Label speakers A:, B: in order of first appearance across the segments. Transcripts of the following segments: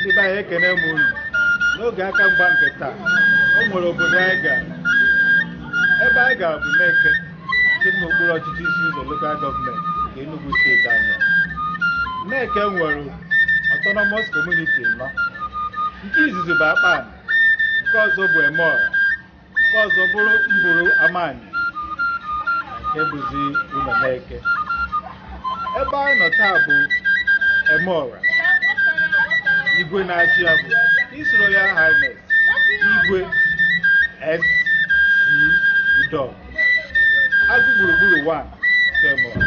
A: ndị be anyị ekene m unu n'oge aka mgba nke taa o nwere obodo anyị gara ebe anyị gara bụ Neke nke dị n'okpuru ọchịchị Isi Ụzọ lokal gọọmenti nke Enugu steeti anyị Neke nwere autonomous community anọ nke izizi bụ Akpanị nke ọzọ bụ Emeọra nke ọzọ bụrụ mbụrụ amani nke bụzi Ụlọ Neke Ebe anyị nọ taa bụ Emeọra. Igwe na-achị ya bụ His Royal Highness Igwe SC Udọgụ Agụ gburugburu 1 nke Emeọra.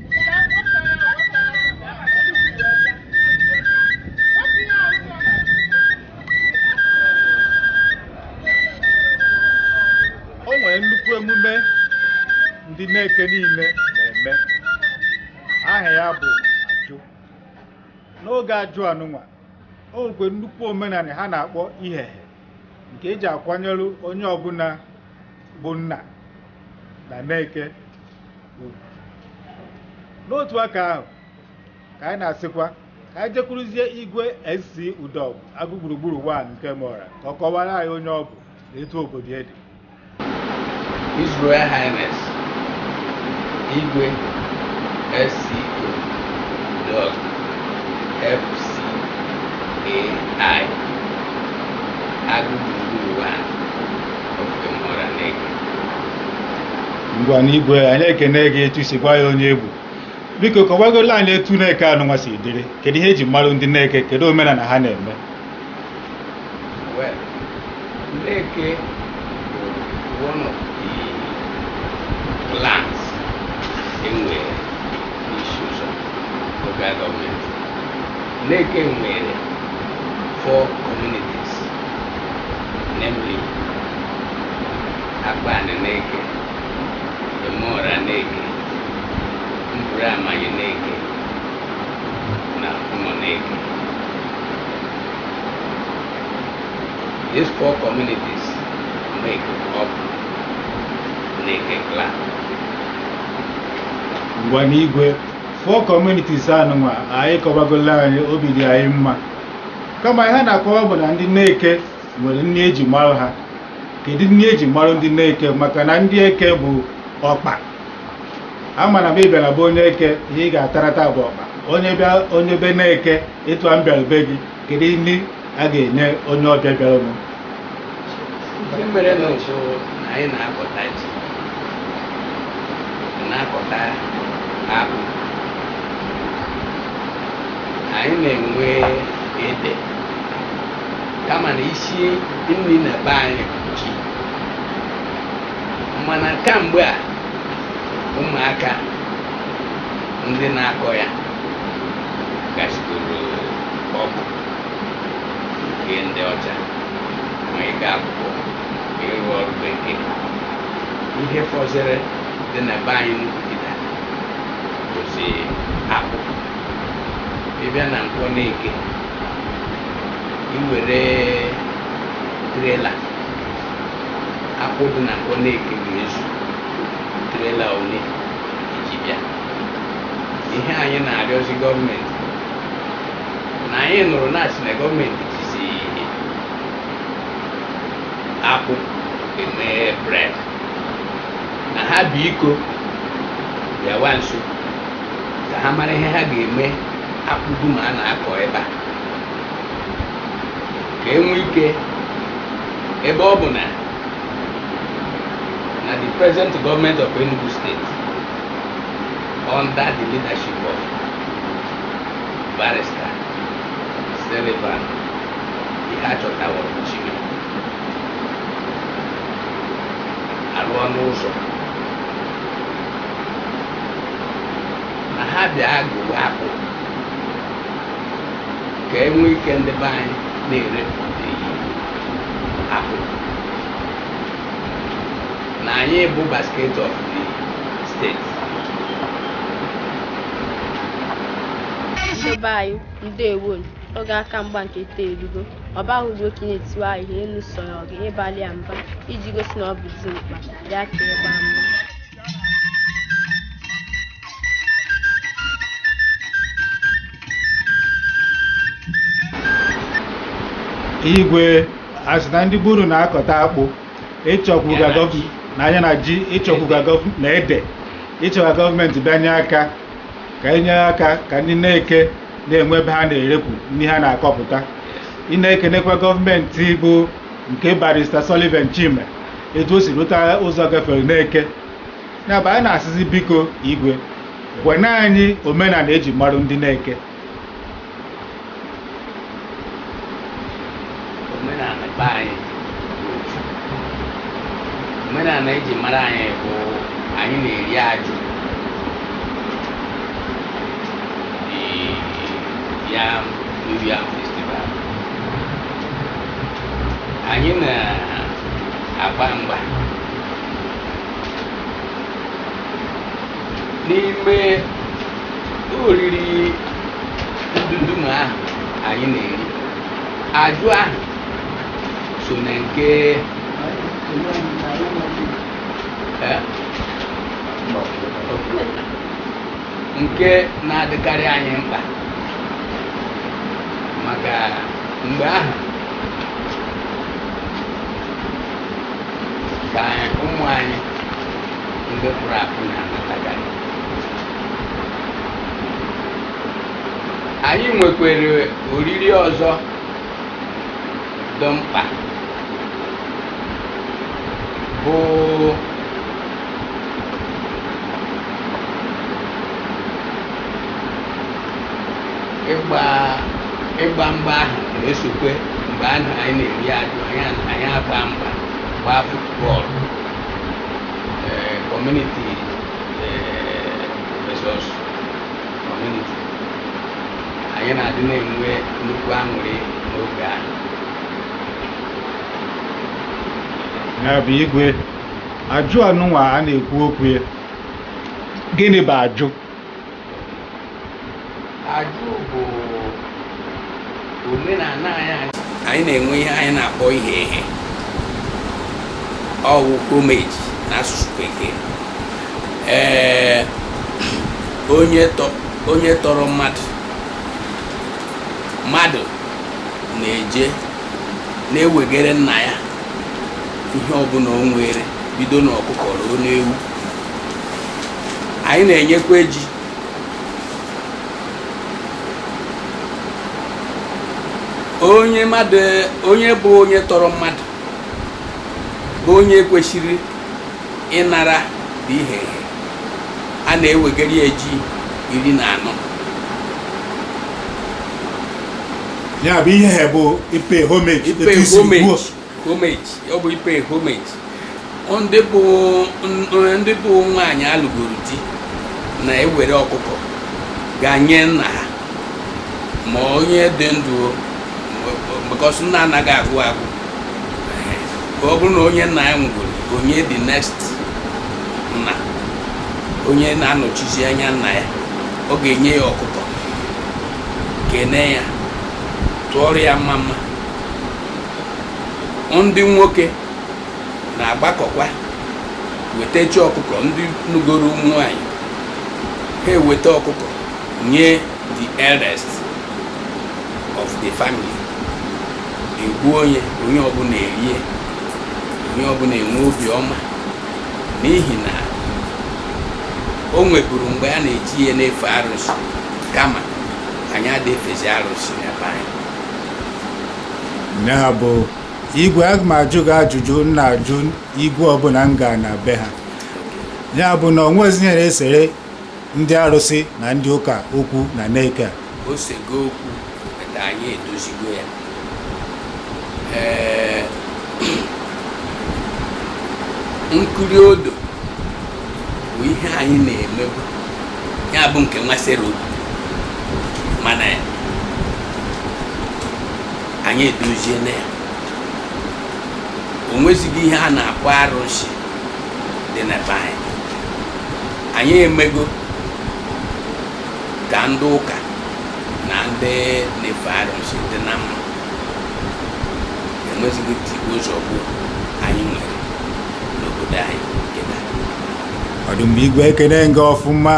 A: o nwere nnukwu emume ndị Neke niile na-eme aha ya bụ ajụ n'oge ajụ anụnwa o nwekwe nnukwu omenala ha na-akpọ ihehe nke eji akwanyere onye ọbụla bụ nna na Neke ugwu n'otu aka ahụ ka anyị na-asịkwa ka anyị jekwuruzie igwe SC Udọgụ agụ gburugburu wan nke Emeọra ka ọ kọwara anyị onye ọ bụ na etu obodo ya dị
B: His Royal Highness Igwe SC Udọgụ FCAI Agụ gburugburu One of Emeọra Neke
A: ngwanụ igwe anyị ekene gị etu i si gwa anyị onye ị bụ biko kọwagola anyị etu Neke anụnwa si dịrị kedu ihe eji mara ndị Neke kedu omenala ha na-eme
B: Neke one of the clans e nwere n'Isi Ụzọ local government Neke nwere four communities namely Akpanị Neke, Emụọra Neke, Mburu Amanyị Neke na Ụmụ Neke. These four communities make up Neke
A: clan. ngwanụ Igwe four communities anụnwa anyị kọwagola anyị obi dị anyị mma kama ihe a na-akọwa bụ na ndị Neke nwere nri eji mara ha kedu nri eji mara ndị Neke maka na ndị Eke bụ ọkpa ama na ma ị bịara be onye Eke ihe ị ga-atarata bụ ọkpa onye bịa onye be Neke etu a m bịara be gị kedu nri a ga-enye onye ọbịa bịara m Ihe
B: mere na ụfụ na anyị na-akọta ji na-akọta akpụ anyị na-enwe ede kama na isi nri na be anyị bụ ji mana kamgbe a ụmụaka ndị na-akọ ya gasịgoro ọgụ nke ndị ọcha ma ịga akwụkwọ ma ịrụ ọrụ bekee ihe fọziri dị na be anyị n'ugbu kịta bụzi akpụ ị bịa na Nkwọ Neke i were trela akpụ dị na Nkwọ Neke ga-ezu trela ole i ji bịa ihe anyị na-arịọzi gọọmenti na anyị nụrụ na a sị na gọọmenti jizi akpụ eme bred na ha biko bịawa nso ka ha mara ihe ha ga-eme akpụ dum a na-akọ ebe a ka e nwee ike ebe ọ bụ na na the present government of Enugu State under the leadership of barrister Sullivan Iheanacho Chime alụọna ụzọ na ha bịa gụwa akpụ ka e nwee ike ndị be anyị na-ere akpụ na anyị bụ basket of the
C: state ndị be anyị ndewo oge aka mgba nke taa erugo ọba ahụ bụ okenye tiwa ahịhịa elu sọrọ gị ịbalụ ya mba iji gosi na ọ bụ dimkpa ya ka ịgba mgba
A: igwe asị na ndị be unu na-akọta akpụ ịchọkwuga na anya na ji ịchọkwuga na ede ị chọ ka gọọmenti bịa nye aka ka enye aka ka ndị n'Eke na-enwe ebe ha na-erekwu ndị ha na-akọpụta ị na-ekenekwa gọọmenti bụ nke barista Sullivan Chime etu o si rụta ụzọ gafere n'Eke ya bụ anyị na-asịzi biko igwe gwena anyị omenala eji marụ ndị n'Eke omenala
B: be anyị bụ ofu. omenala eji mara anyị bụ anyị na-eri ajụ Ee, ya New Yam Festival anyị na-agba mgba n'ime oriri ndundum ahụ anyị na-eri ajụ ahụ so na nke eh, nke na-adịkarị anyị mkpa maka mgbe ahụ ka ụmụ anyị ndị pụrụ apụ na-anatakarị anyị nwekwere oriri ọzọ dị mkpa bụ ịgba ịgba mgba ahụ na-esokwe mgbe ahụ anyị na-eri ajụ anyị a- anyị agba mgba gbaa futbọọlụ ee kọmuniti versus kọmuniti anyị na-adị na-enwe nnukwu aṅụrị n'oge ahụ
A: ya bụ igwe ajụ anụnwa a na-ekwu okwu ya gịnị bụ
B: ajụ ajụ bụ omenala anyị anyị na-enwe ihe anyị na-akpọ ihe ehe ọwụ homage na asụsụ bekee ee onye tọrọ mmadụ mmadụ na-eje na-ewegere nna ya ihe ọbụla o nwere bido n'ọkụkọ ruo n'ewu anyị na-enyekwa ji onye bụ onye tọrọ mmadụ bụ onye kwesịrị ịnara the ihe a na-ewegara ya ji iri na anọ
A: ya bụ ihe bụ ịpay homage
B: homage ọ bụ ịpay homage ndị bụ nwaanyị alụgoro di na-ewere ọkụkọ gaa nye nna ha ma onye dị ndụ because nna anaghị agwụ agwụ ka ọ bụrụ na onye nna ya nwụgoro onye the next nna onye na-anọchizi anya nna ya ọ ga-enye ya ọkụkọ kene ya tụọrọ ya mma mma ndị nwoke na-agbakọkwa wetachi ọkụkọ ndị nụgoro ụmụ nwanyị ha eweta ọkụkọ nye the eldest of the family e gbuo nye onye ọbụla erie onye ọbụla enwe obi ọma n'ihi na o nweburu mgbe a na-eji ihe na-efe arụsị kama anyị adị efezi arụsị n'ebe anyị
A: ya bụ igwe aga m ajụ gị ajụjụ m na-ajụ igwe ọbụla m gaa na be ha ya bụ na o nwezi ihe na-esere ndị arụsị na ndị ụka okwu na Neke a o sego
B: okwu na anyị edozigo ya ee nkiri odo bụ ihe anyị na-emebu ya bụ nke nwasịrị obi mana anyị edoziena ya o nwezighị ihe a na-akpọ arụsị dị na be anyị anyị emego ka ndị ụka na ndị na-efe arụsị dị na mma enwezighị tigbuo zọgbuo anyị nwere n'obodo anyị ọ
A: dị mma igwe ekene m gị ọfụma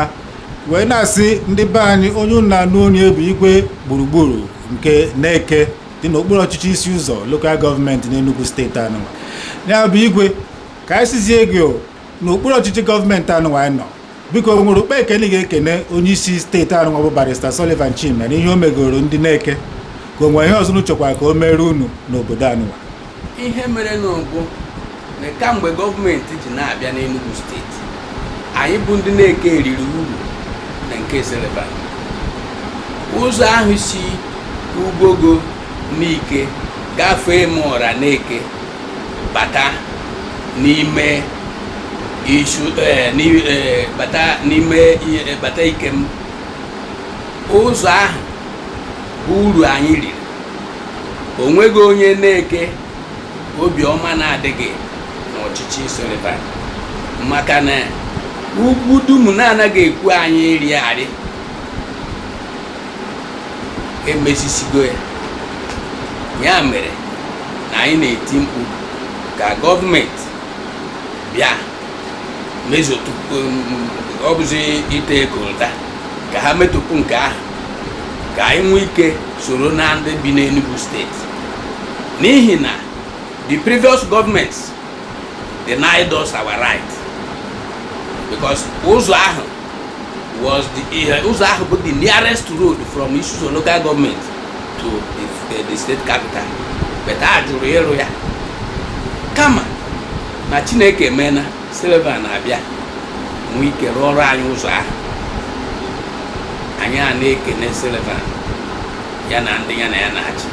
A: wee na-asị ndị be anyị onye unu na-anụ onu ya bụ igwe gburugburu nke Neke dị n'okpuru ọchịchị Isi Ụzọ lokal gọọmenti n'Enugu steeti anụwa ya bụ igwe ka anyị sịzie gị o n'okpuru ọchịchị gọọmenti anụwa anyị nọ biko o nwere ụkpa ekene ị ga-ekene onye isi steeti anụnwa bụ barista Sullivan Chime na ihe o megoro ndị Neke ka o nwere ihe ọzọ unu chọkwara ka o meere unu n'obodo anụnwa ihe
B: merenụ bụ na kamgbe gọọmenti ji na-abịa n'Enugu steeti anyị bụ ndị Neke riri uru na nke Sullivan ụzọ ahụ si Ugwogo Nike gafee m ọra Neke bata n'ime isu eh, eh, bata n'ime eh, bata Ikem ụzọ ahụ bụ uru anyị riri o nweghị onye Neke obi ọma na-adịghị n'ọchịchị Sullivan maka na ugwu dum na-anaghị ekwe anyị ịrị arị emezisigo ya ya mere na anyị na-eti mkpu ka gọọmenti bịa mezotụpụ ọ bụzi ite coal tar ka ha metụpụ nke ahụ ka anyị nwee ike soro na ndị bi n'Enugu steeti n'ihi na the previous governments denied us our right because ụzọ ahụ was the ihe ụzọ ahụ bụ the nearest road from Isi-Uzo local government to the, the, the state capital but a jụrụ ịrụ ya kama na Chineke mena Sullivan abịa nwee ike rụọrọ anyị ụzọ ahụ anyị ana-ekene Sullivan ya na ndị ya na ya na-achị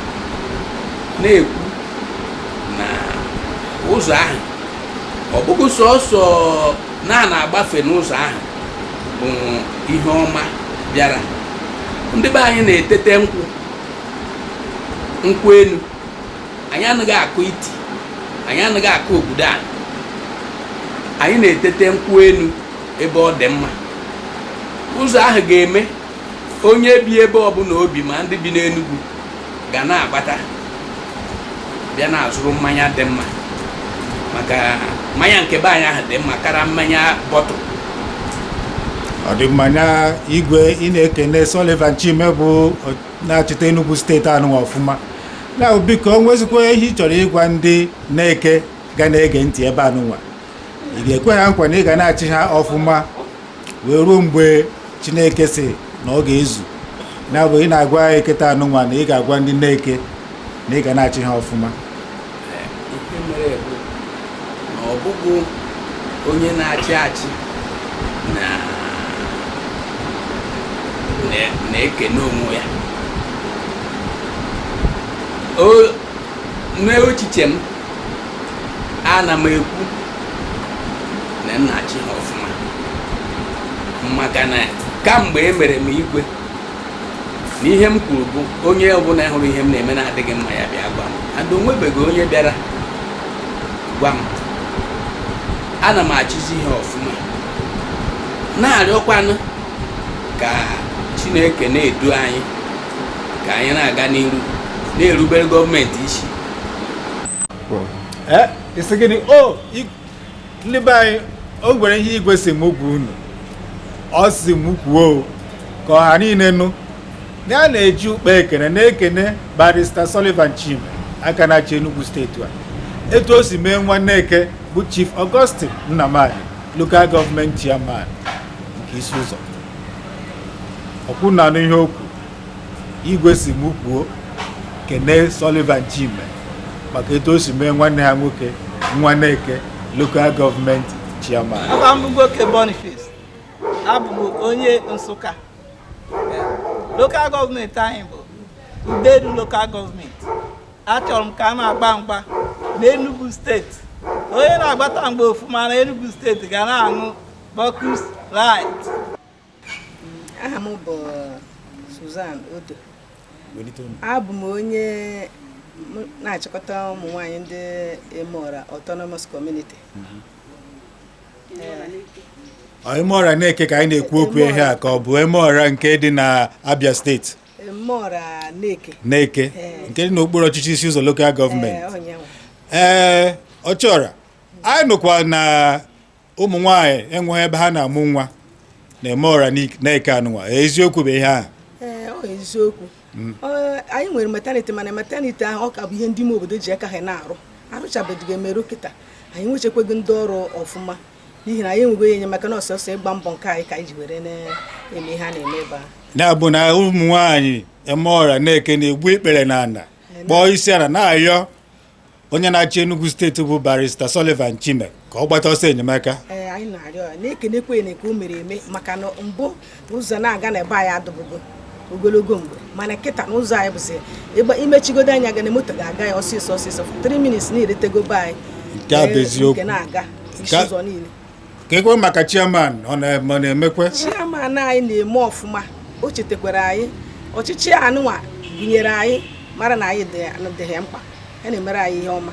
B: na-ekwu na ụzọ ahụ ọ bụghị sọsọ na a na-agbafe n'ụzọ ahụ bụ ihe ọma bịara ndị be anyị na-etete nkwụ nkwụ enu anyị anaghị akụ iti anyị anaghị akụ ogudu ana anyị na-etete nkwụ enu ebe ọ dị mma ụzọ ahụ ga-eme onye bi ebe ọbụla o bi ma ndị bi n'Enugwu ga na-agbata bịa na-azụrụ mmanya dị mma maka mmanya nke be anyị ahụ dị mma kara mmanya bottle
A: ọ dị mma nya igwe ị na-ekene Sullivan Chime bụ na-achịta Enugu steeti anụnwa ọfụma na biko o nwezikwa ihe ị chọrọ ịgwa ndị Neke ga na-ege ntị ebe anụnwa ị ga-ekwe ha nkwa na ị ga na-achị ha ọfụma wee ruo mgbe chineke sị na ọ ga-ezu nya bụ ị na-agwa anyị kịta anụnwa na ị ga-agwa ndị Neke na ị ga na-achị ha ọfụma
B: ihe mere bụ na ọ bụghị onye na-achị achị na na- na-ekene onwe ya O- n'echiche m ana m ekwu na m na-achị ha ọfụma maka na kamgbe e mere m igwe na ihe m kwuru bụ onye ọbụla hụrụ ihe m na-eme na-adịghị mma ya bịa gwa m and o nwebeghị onye bịara gwa m ana m achịzi ihe ọfụma na-arịọkwanụ ka chineke na-edu anyị ka anyị na-aga n'iru na-erubere gọọmenti isi
A: eh, isi gịnị o ndị be anyị o nwere ihe igwe si m gwa unu ọ si m kwuo ka ọha niile nụ na a na-eji ụkpa ekene na-ekene barista Sullivan Chime aka na-achị Enugu steeti a etu o si mee nwa Neke bụ Chief Augustine Nnamani local gọọmenti chairman nke Isi Ụzọ ọkwa unu anụ ihe okwu igwe si m kwuo kene Sullivan Chime maka etu o si mee nwanne ha nwoke nwa Neke lokal gọọmenti chairman Aha m bụ Ugwoke
D: Boniface abụ m onye Nsụka lokal gọọmenti anyị bụ Udenu lokal gọọmenti achọrọ m ka a na-agba mgba n'Enugu steeti onye na-agbata mgba ọfụma na Enugu steeti ga na-aṅụ
E: Bacchus Lite. Aha m bụ Susan Odo. Abụ m onye na-achịkọta
D: ụmụ nwanyị ndị Emeora Autonomous Community.
A: Mhm. Emeora Neke ka anyị na-ekwu okwu ihe a ka ọ bụ Emeora nke dị na Abia steeti.
D: Emeora Neke. Neke
A: nke dị n'okpuru ọchịchị Isi Ụzọ lokal gọọmenti. Ee, ọchịọra anyị nụkwa na ụmụ nwaanyị enweghị ebe ha na-amụ nwa na Emeora Neke anụnwa eziokwu bụ ihe ahụ eziokwu
D: mm. anyị nwere maternity mana maternity ahụ ọ ka bụ ihe ndị ime obodo ji aka ha na-arụ arụchabeghị emeru kịta anyị nwechekwaghị ndị ọrụ ọfụma n'ihi na anyị enweghị enyemaka na ọ sọsọ ịgba mbọ nke anyị ka anyị ji were na-eme ihe a na-eme ebe a na-abụ na ụmụ
A: nwaanyị Emeora Neke na-egbu ikpere n'ana kpọọ isi ana na-ayọ onye na-achị Enugu steeti bụ barista Sullivan Chime ka ọ gbata ọsọ enyemaka ee anyị na-arịọ ya
D: na-ekenekwa ya nke o mere eme maka na mbụ na ụzọ na-aga na be anyị adụbụgo ogologo mgbe mana kịta na ụzọ anyị bụzi ịgba i mechigodo anya gị na moto ga-aga ya ọsịsọ ọsịsọ 3 minutes na i rutego be anyị Nke a bụ Ee, eziokwu.
A: nke na-aga isi Nke a-
D: ụzọ niile kee kwe
A: maka chairman ọ na-emekwe chairman
D: anyị na-eme ọfụma o chetakwara anyị ọchịchị anụnwa gụnyere anyị mara na anyị dị ya mkpa ya na-emere anyị ihe ọma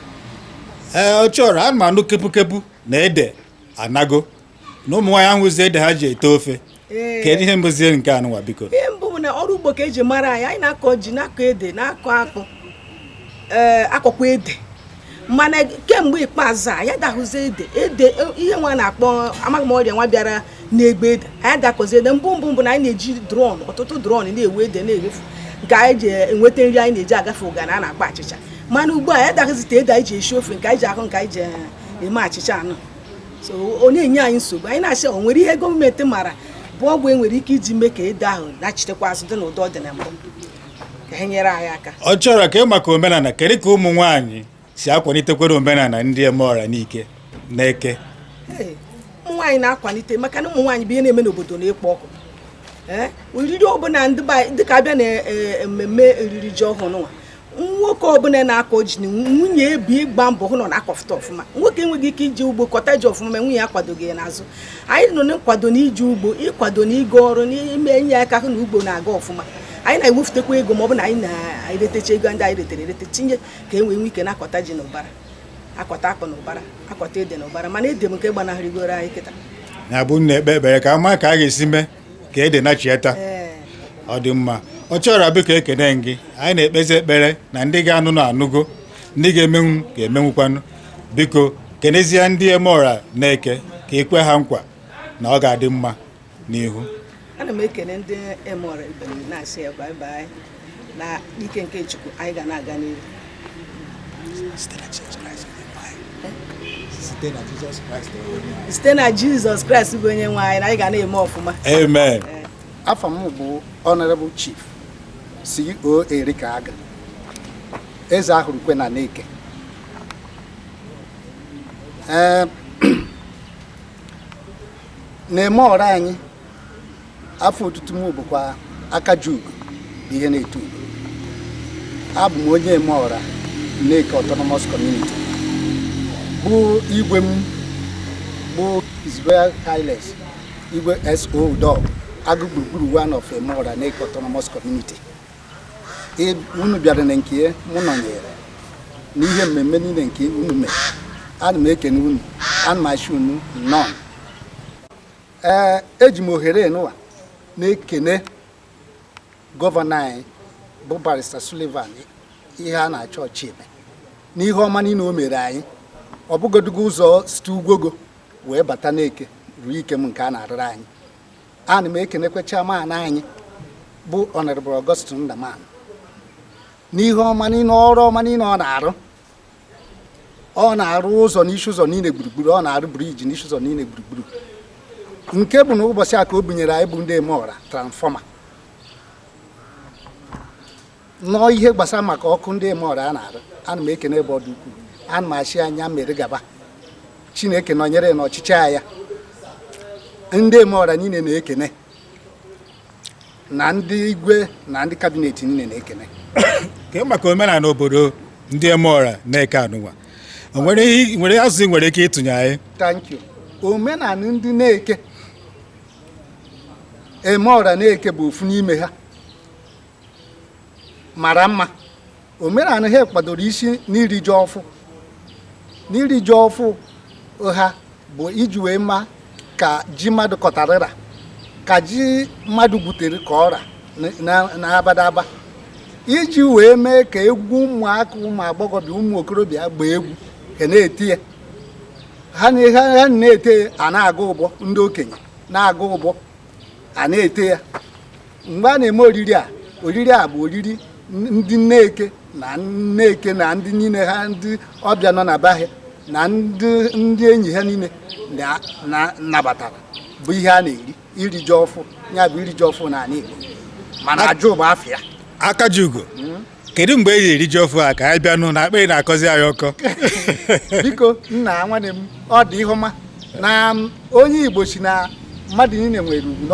D: ee
A: ọchịọra ana m anụ kepukepu na ede anago na ụmụ nwaanyị ahụzi ede ha ji ete ofe kedu ihe bụzi nke anụwa biko ihe mbụ bụ na ọrụ
D: ugbo ka e ji mara anyị anyị na-akọ ji na-akọ ede na-akọ akpụ ee akọkwa ede mana kemgbe ikpeazụ a anyị adahụzi ede ede ihe nwa a na-akpọ amaghị m ọrịa nwa bịara na-egbu ede anyị adakọzi ede mbụ mbụ mbụ na anyị na-eji drum ọtụtụ drum na-ewu ede na-ewefu nke anyị ji enweta nri anyị na-eji agafe ụganị a na-akpọ achịcha mana ugbu a anyị adahụzite ede anyị ji esi ofe nke anyị ji ahụ nke anyị ji eme achịcha anụ so ọ na-enye anyị nsogbu anyị na-asị o nwere ihe gọọmenti mara bụ ọgwụ e nwere ike iji mee ka ede ahụ nachitekwa azụ dị n'ụdị ọ dị na mbụ ka ha nyere anyị aka Ọchịọra kee maka omenala
A: kedu ka ụmụ nwaanyị si akwalitekwere omenala ndị Emeọra Neke na Neke
D: Ee, ụmụ nwaanyị na-akwalite maka na ụmụ nwaanyị bụ ihe na-eme n'obodo na-ekpo ọkụ Ee, oriri ọbụla ndị be anyị- dịka a bịa na eh, mmemme oriri ji ọhụrụ nwa nwoke ọbụla na-akọ ji na nwunye ebi ịgba mbọ hụ na ọ na-akọfụta ọfụma nwoke enweghị ike ije ugbo kọta ji ọfụma ma nwunye ya kwadoghị ya n'azụ anyị nọ na nkwado na ije ugbo ịkwado na ịga ọrụ na ime inye aka hụ na ugbo na-aga ọfụma anyị na-ewepụtakwa ego ma ọ bụ na anyị na-eretecha ego ndị anyị retere erete tinye ka e nwee nwee ike na-akọta ji na ụbara akọta akpụ na ụbara akọta ede na ụbara mana ede bụ nke gbanahụrịgoro anyị kịta na-abụ na-ekpe
A: ekpere ka a ma ka a ga-esi mee ka ede nachieta ọ dị mma Ọchịọra biko ekene m gị anyị na-ekpezi ekpere na ndị ga-anụnụ anụgo ndị ga-emenwu ga-emenwukwanụ biko kenezie ndị Emeọra Neke ka i kwe ha nkwa na ọ ga-adị mma n'ihu ana m
D: ekene ndị Emeọra ibe m na-asị ya bye bye na ike nke Chukwu anyị ga na-aga n'ihu site na Jizọs Kraịst bụ onye nwe anyị na anyị ga na-eme ọfụma amen
A: afa m
E: bụ honorable chief CO Arika Aga eze ahụrụ kwe na Neke na Emeọra anyị afa otutu m bụkwa aka ji ugo bụ ihe na-eto ugo abụ m onye Emeọra Neke Autonomous Community bụ igwe m bụ His Royal Highness igwe SO Udogu Agụ gburugburu one of Emeọra Neke Autonomous Community E- unu bịara na Neke, mụ nọnyere n'ihe mmemme niile nke unu mere ana m ekene unu ana m asị unu nnọọ ee eji m ohere nụwa na-ekene gọvanọ anyị bụ barista Sullivan Iheanachọ Chime n'ihe ọma niile o mere anyị ọ bụgodugo ụzọ site Ugwogo wee bata Neke ruo Ikem nke a na-arụrụ anyị ana m ekenekwa chairman anyị bụ Honorable Augustine Nnamani n'ihe ọma niile ọrụ ọma niile ọ na-arụ ọ na-arụ ụzọ n'Isi Ụzọ niile gburugburu ọ na-arụ briji n'Isi Ụzọ niile gburugburu nke bụ na ụbọchị a ka o bunyere anyị bụ ndị Emeọra transfọma nọọ ihe gbasara maka ọkụ ndị Emeọra a na-arụ ana m ekene ebe ọ dị ukwuu ana m asị nya mere gaba chineke nọnyere n'ọchịchị ya ndị Emeọra niile na-ekene na ndị igwe na ndị kabinet niile na-ekene ka maka
A: omenala obodo ndị Emeọra Neke anụnwa nwere azụ i nwere ike ịtụnye anyị thank
E: you omenala ndị Neke Emeọra Neke bụ ofu n'ime ha mara mma omenala ha kwadoro isi n'iri ji ọfụ n'iri ji ọfụ ha bụ iji wee ma ka ji mmadụ kọtarịra ka ji mmadụ gwutere ka ọ ra n'abadaba iji wee mee ka egwu ụmụaka ụmụ agbọghọbịa ụmụ okorobịa gbaa egwu ka a na-eti ya ha na-ete a na-agụ ụbọ ndị okenye na-agụ ụbọ a na-ete ya mgbe a na-eme oriri a oriri a bụ oriri ndị Neke na Neke na ndị niile ha ndị ọbịa nọ na be ha na ndị enyi ha niile nabatara bụ ihe a na-eri iri ji ọfụ ya bụ iri ji ọfụ na ala Igbo mana ajụ bụ afa ya Akajiugo hmm?
A: kedu mgbe e ji eri ji ọfụ a ka anyị bịanụ na akpịrị na-akọzi anyị ọkọ
E: biko nna nwanne m ọ dị ihe ọma na onye Igbo sị na mmadụ niile nwere ugwu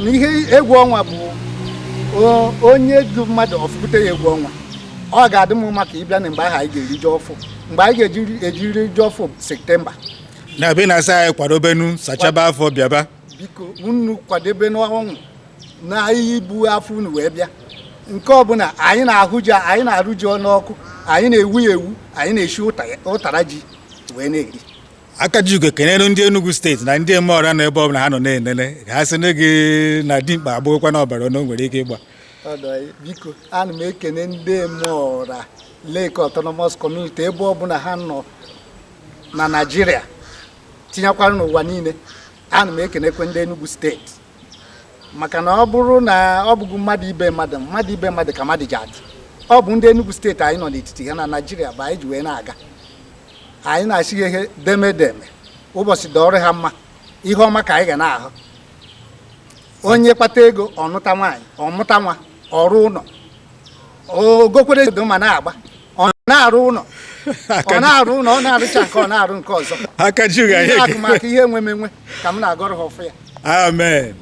E: na ihe egwu ọnwa bụ onye du mmadụ ọ fụkute ya egwu ọnwa ọ ga-adị m mma ka ị bịa na mgbe ahụ anyị ga-eri ji ọfụ mgbe anyị ga-eji eri ji ọfụ septemba n'abanị
A: asaa anyị kwadobenụ sachaba afọ bịaba biko
E: unu kwadebenụ onwe unu ibu afọ unu wee bịa nke ọbụla anyị na anyị na-arụ ji ọnụ ọkụ anyị na-ewu ya ewu anyị na-eshi ụtara ji wee na-eri Akajiugo
A: kenere ndị Enugu steeti na ndị Emeọra na ebe ọbụla ha nọ na-enene ka ha sị na gị na dimkpa agbụghịkwa na ọbara ọnụ nwere ike ịgba
E: biko ana m ekene ndị Emeọra Neke Autonomous Community ebe ọbụla ha nọ na Naịjirịa tinyekwara n'ụwa niile ana m ekenekwe ndị Enugu steeti maka na ọ bụrụ na ọ bụghị mmadụ ibe mmadụ mmadụ ibe mmadụ ka mmadụ ji adị ọ bụ ndị Enugu steeti anyị nọ n'etiti ha na Naịjirịa bụ anyị ji wee na-aga anyị na-asị ha deme deme ụbọchị dọọrọ ha mma ihe ọma ka anyị ga na-ahụ onye kpata ego ọ nụta nwaanyị ọ mụta nwa ọ rụ ụlọ o gokwere edo ma na-agba ọ na-arụ ụlọ ọ na-arụ ụlọ ọ na-arụcha nke ọ na-arụ nke ọzọ akụmakụ ihe enwemenwe ka m na-agọrọ ha ọfọ ya amen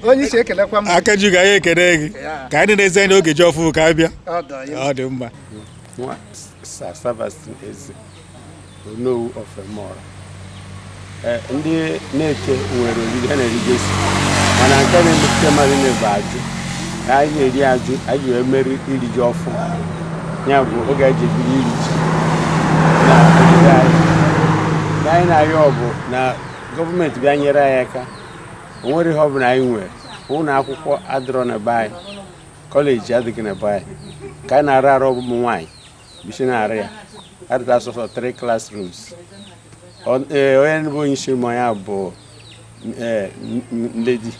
E: onye isi ekelekwa m Akajiugo anyị ekele
A: gị ka anyị na-enezi anya oge ji ọfụ ka a bịa ọ dị mma
F: Onowu of Emeora. Eh, ndị Neke nwere oriri ha na-erigasị mana nke na-emetụta mmadụ niile bụ ajụ ka anyị na-eri ajụ anyị wee mere iri ji ọfụ ya bụ oge anyị ji ebido iri ji na obodo anyị Ihe anyị na-arịọ bụ na gọọmenti bịa nyere anyị aka o nwerọ ihe ọ bụla anyị nwere ụlọ akwụkwọ adịrọ na be anyị kọleji adịghị na be anyị ka anyị na-arụ arụ ụmụ nwaanyị bụ isi na-arụ ya adịta sọsọ three classrooms e, onye bụ onye isi ụmụ ya bụ e, Lady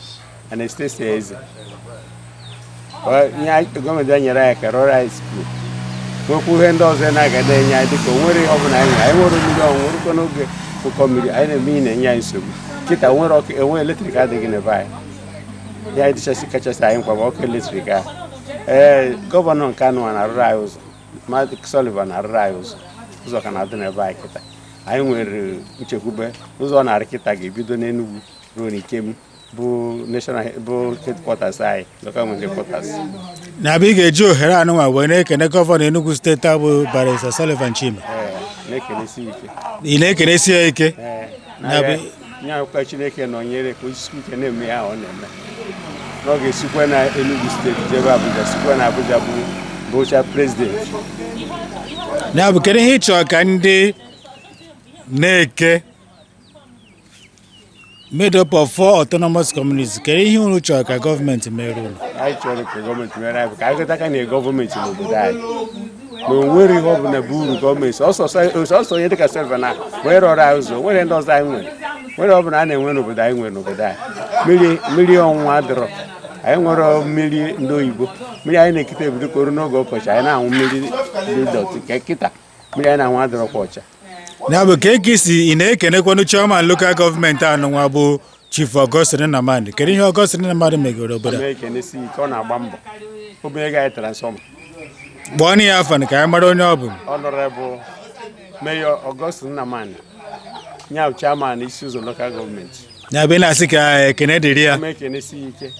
F: Anastasia Eze gọọmenti bịa nyere anyị aka rụọrọ anyị skuul nwekwa ihe ndị ọzọ na-aga na-enye anyị dịka o nwerọ ihe ọ bụla anyị anyị nwere mmiri ọnwụ nwerụkọ n'oge ụkọ mmiri anyị na-eme ihe na-enye anyị nsogbu kịta nwere ọkụ enwe eletrik adịghị n'ebe anyị ya dịchasị kachasị anyị mkpa bụ ọkụ eletrik ahụ ee gọvanọ nke anụnwa na-arụrụ anyị ụzọ Maazị Sullivan na-arụrụ anyị ụzọ ụzọ ka na-adị n'ebe anyị kịta anyị nwere nchekwube ụzọ ọ na-arụ kịta ga-ebido n'Enugu ruo n'Ikem bụ national he- bụ headquarters anyị local government headquarters nya bụ
A: ị ga-eji ohere anụnwa wee na-ekene gọvanọ Enugu steeti a bụ Barrister Sullivan Chime ee na-ekenesi ike ị na-ekenesi ya ike ee na-abịa
F: na-ayọkwa Chineke nọnyere ka o sisie ike na-eme ihe ọ na-eme na ọ ga-esikwa na Enugu steeti jebe Abuja sikwa na Abuja bụ bụcha prezidenti
A: ya bụ kedu ihe ị chọrọ ka ndị Neke made up of four autonomous communities kedu ihe unu chọrọ ka gọọmenti mere unu anyị chọrọ ka gọọmenti
F: mere anyị bụ ka anyị ghọtakwa na gọọmenti n'obodo anyị na o nwerọ ihe ọbụla bụ uru gọọmenti ọ sọsọ onye dịka Sullivan wee rụọrọ anyị ụzọ o nwerọ ndị ọzọ anyị nwere o nwerọ ọbụla a na-enwe n'obodo anyị nwere n'obodo anyị mmiri ọnwụnwụ adịrọ anyị enwerọ mmiri ndị oyibo mmiri anyị na-ekute ebido kọrọ n'oge ọkọchị anyị na-anwụ mmiri dị dọtị ka kịta mmiri anyị na-anwụ adịrọkwa ọcha ya bụ ka
A: e kwesị ị na-ekenekwanụ chairman lokal gọọmenti anụnwa bụ Chief Augustine Nnamani kedu ihe Augustine Nnamani megoro obodo a? ekenesi ike ọ
F: na-agba mbọ o bunyego anyị transfọma kpọọnụ
A: ya afa ka anyị mara onye ọ bụ Honourable
F: Mayor Augustine Nnamani nya bụ chairman Isi Ụzọ lokal gọọmenti ya bụ ị na-asị ka
A: ekene dịrị ya eme ekenesi ike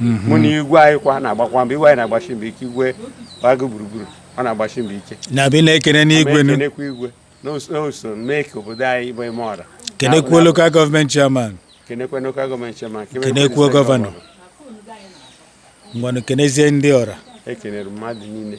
F: mhm. mana igwe anyị kwa na-agbakwa mbọ igwe anyị na-agbasi mbọ ike igwe gbago gburugburu ọ na-agbasi mbọ ike nya bụ ị na-ekene n'igwe
A: na-ekenekwa igwe
F: na o so mee ka obodo anyị bụ Emeora kenekwuo
A: lokal gọọmenti chairman kenekwa lokal
F: gọọmenti chairman kenekwuo
A: gọvanọ ngwanụ kenezie ndị ọra ekenere mmadụ
F: niile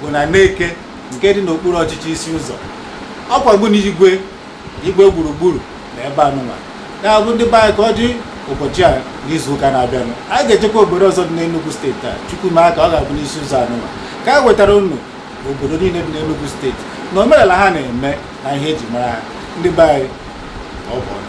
A: bụ na Neke nke dị n'okpuru ọchịchị isi ụzọ ọkwa bụ na igwe igwe gburugburu na ebe anụnwa ya bụ ndị be anyị ka ọ dị ụbọchị a n'izu ụka na-abịanụ anyị ga-ejekwa obodo ọzọ dị n'Enugu steeti a chukwu ma aka ọ ga-abụ n'isi ụzọ anụnwa ka anyị wetara unu obodo niile dị n'Enugu steeti na omenala ha na-eme na ihe eji mara ha ndị be anyị ọ bụ ọnụ